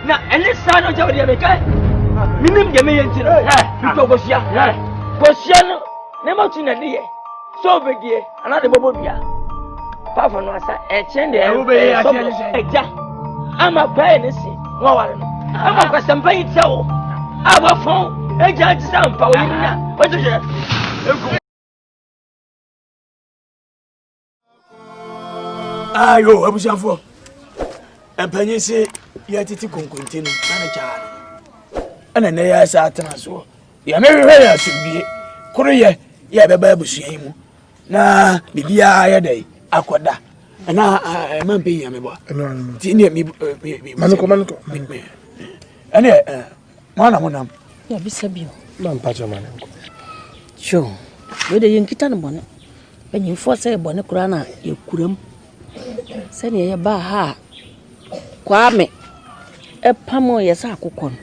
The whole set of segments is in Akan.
na ɛne saa no gyɛ wodeɛ mekae menim deɛ meyɛ nti no metɔ kɔsua kɔsua no ne matu na ne yɛ sɛ obɛdie anaa de bɔbɔ dua paafo no asa ɛkyɛn deɛ ɛsɔbɔ agya ama kwae ne se na waware no ama kwasɛmpa yi kyɛ wo a wɔfɔn agya nti sɛ mpa wo yere na wɔgye hwɛ ayo abusuafoɔ mpanyin se yɛtete konkonte no na ne kyaa no ɛna nnɛ yɛ sɛ atena soɔ deɛ mehwehwɛ yɛ asomdwie koro yɛ yɛ bɛba abusua yi mu na biribiara yɛ dɛ akɔda ɛna ɛma mpɛ hia me bɔ nti neɛ ɛneɛ Hwan na monam? Na bisa bio. Ma mpa kyɛ ma ne nkɔ. Sure. Wei de yɛnkita no bɔne. Mpanyimfoɔ sɛ yɛ bɔne koraa na yɛkuram. Sɛdeɛ yɛbaa ha a Kwame ɛpamoo yɛ sɛ akokɔ no.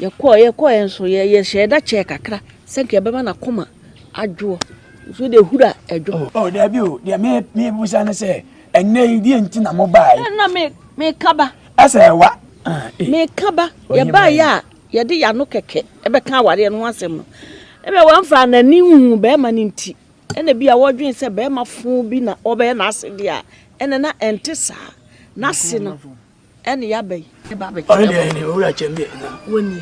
Yɛkɔɔ yɛkɔɔ yɛn so yɛ yɛhyɛ da kyɛɛ kakra sɛ nka yɛbɛma n'akoma adwoɔ. Nso deɛ hura ɛdwo. Oh, oh daabi o deɛ me me busa no sɛ ɛnna yi deɛ nti na mo baa yi. Ɛnna me me kaba. Ɛsɛ wa. Meka ba, yɛbaeɛ a yɛde yɛn ano kɛkɛ bɛka awareɛ no ho asɛm no, ebia wɔmfaa n'ani nhuu barima no nti, ɛna ebia wɔdwen sɛ barima fo bi na ɔbɛyɛ n'ase deɛ a, ɛna na ɛnte saa. N'ase no ɛne yɛaba yi. Ɔno deɛ ɛne owura kyɛm deɛ na. Wɔnni.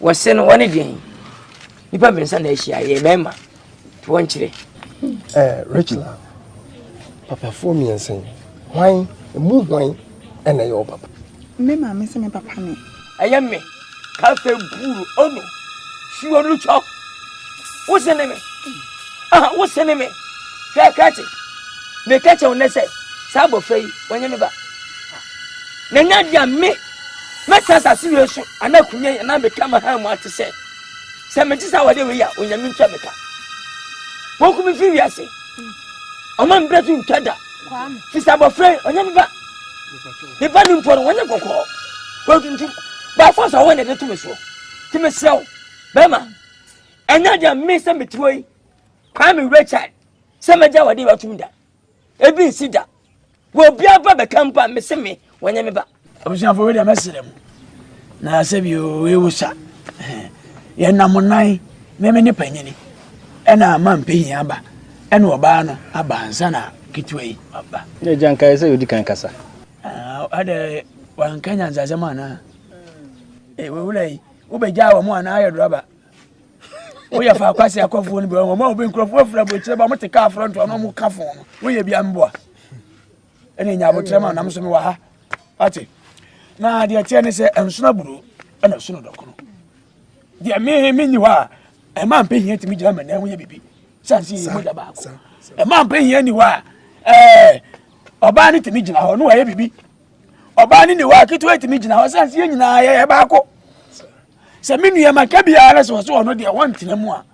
Wɔse no wɔne deɛn nipa mmiɛnsa na ahyia yɛ mmarima nti wɔnkyerɛ. Eh, Rachel papafoɔ mmiɛnsa yi hwan emu hwan ɛna ɛyɛ ɔpapa. Me maame sɛ me papa ne. Ɛyɛ me kafe buuru ono suo no twɔ wose ne me aha wose ne me hwɛ krakye meka kyɛw ne sɛ saa abɔfra yi wɔnyɛ me ba na nya deɛ me Mɛtena asase wei so anaa akonya yi anaa meka ma hann mu ate sɛ sɛ mete saa awadeɛ wei a onyame ntua me ka wɔnko me firi wiase ɔma mbrɛ so ntwa da firi sɛ abɔfra yi ɔnyɛ me ba me ba no mpo no wɔnyɛ kɔkɔɔ wɔntuntum baafo sɛ ɔwɔ na ɛde to me soɔ nti mesrɛ wo bɛrima ɛnyɛ deɛ me sɛ metiri hɔ yi kwaa me wura kyad sɛ mɛgya awadeɛ wei atom da Ebi nsi da. Wɔ obiara ba bɛka mpo a, mese me, wɔnyɛ me ba. Abusuafo wei deɛ mɛsrɛ mu. Na sɛ bi ewu sa. Yɛnam nan, meme ne panyini. Ɛna ama mpehi aba. Ɛna ɔbaa no aba ansa na ketewa yi aba. Ne gya nkae sɛ yɛdi kan kasa. Ɛdɛ wanka nyansasɛm anaa? Ee, wewura yi, wobɛgyaa wɔn anaa ayɛ drɔba? woyɛ fa akwasi akɔfoɔ no bi wɔn a obi nkurɔfoɔ afura aburokyerɛ ba wɔn te kaa aforo ntoa na wɔn ka fon no woyɛ bi amboa ɛna enya abokyerɛ ma nam so mi wɔ ha ate na deɛ teɛ ne sɛ nsono aburo ɛna sono dɔkono deɛ mi mi nyi hɔ a ɛmaa mpɛ hia tumi gyina mɛ na ɛho yɛ bibi sansi yɛ mogya baako ɛmaa mpɛ hia ni hɔ a ɛɛ ɔbaa ne tumi gyina hɔ no wɔyɛ bibi ɔbaa ne ni hɔ a ketewa tumi gyina hɔ sansi yɛ nyinaa yɛ baako. sɛ me nua ma ka biara sɛ ɔsɛ ɔno deɛ wɔntena mu a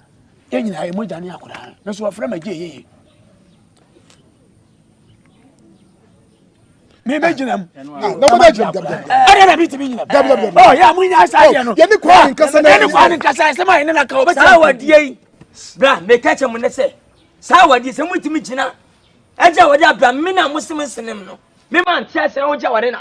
yɛn nyinaa yɛ mogya ne akoraa me so wɔfrɛ ma gye yeye mi bɛ gyina mu. na mo bɛ gyina mu. ɛyɛ na bi ti mi gyina mu. ɔ yà mo nya sa yɛ no. yanni kò ani nkasa na yanni kò ani nkasa yɛ sɛmɛ yɛn na ka o bɛ sɛ. saa wa die yi bra mɛ kɛkyɛ mu ne sɛ saa wa die sɛ mo ti mi gyina ɛgya wa de abira mi na mo si mi sinim no mi ma n ti ase na o gya wa de na.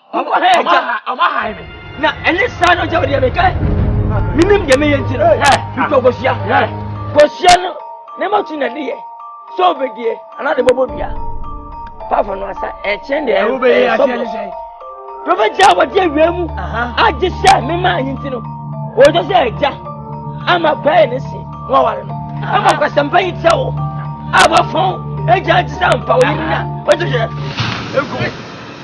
Ɔmo ha yɛ gya. Ɔmo ha yɛ me. Na ɛne saa no gya o deɛ meka menim deɛ meyɛ nti no metɔ kosua. Kosua no ne ma tu na de yɛ sɛ obedie anaa de bɔbɔ dua. Paafo no asa ɛkyɛn deɛ ɛyɛ sɔbɔ. Prɔfɛt a wɔde awia mu agye sɛ mema anyi nti no wɔgye sɛ agya ama pɛɛ ne se na waware no. Ama kwasɛmpa yi kyɛ wo a wɔfɔn agya agye sɛ mpa wo yere na wɔgye sɛ.